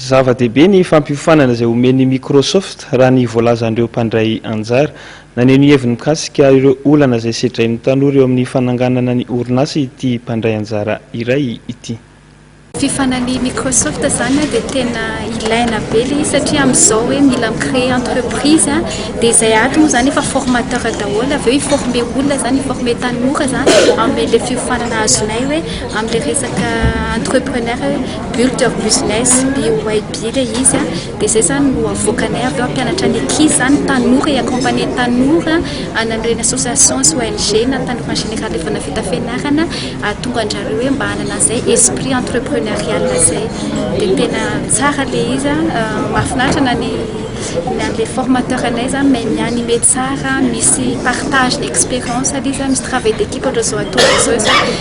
Zava-dehibe ny fampiofanana izay omen'i Microsoft, raha ny voalazan'ireo mpandray anjara. Naneho ny heviny mikasika ireo olana izay sedrain'ny tanora eo amin'ny fananganana ny orinasa ity mpandray anjara iray ity. Fifanalian'i Microsoft izany dia tena ilaina be ilay izy satria amin'izao hoe mila mi-créer entreprise dia izay ato moa izany efa formateur daholo avy eo hi-former olona izany, hi-former tanora izany amin'ilay fiofanana azonay hoe amin'ilay resaka entrepreneur hoe. Burg of Business, BOYB, ilay izy an, dia izay izany no avoakanay avy eo hampianatra ny ankizy izany, ny tanora, hi-accompagner ny tanora hanan'ireny association sy ONG na ny tanora en général efa nahavita fianarana hahatonga an-dry zareo hoe mba hanana an'izay esprit entrepreneurial izay. Dia tena tsara ilay izy an, mahafinaritra na ny na ilay formateur anay izany mahay mi-animer tsara, misy partage-na expérience ilay izy an, misy travail d'équipe ohatr'izao ataonay izao izany.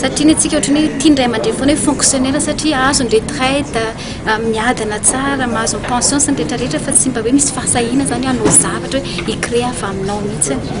Satria ny antsika ohatry ny hoe tia ny ray aman-dreny foana hoe fonctionnaire satria azo ny retraite, miadana tsara, mahazo ny pension sy ny rehetra rehetra fa tsy mba hoe misy fahasahiana izany hoe hanao zavatra hoe hi-creer avy aminao mihitsy.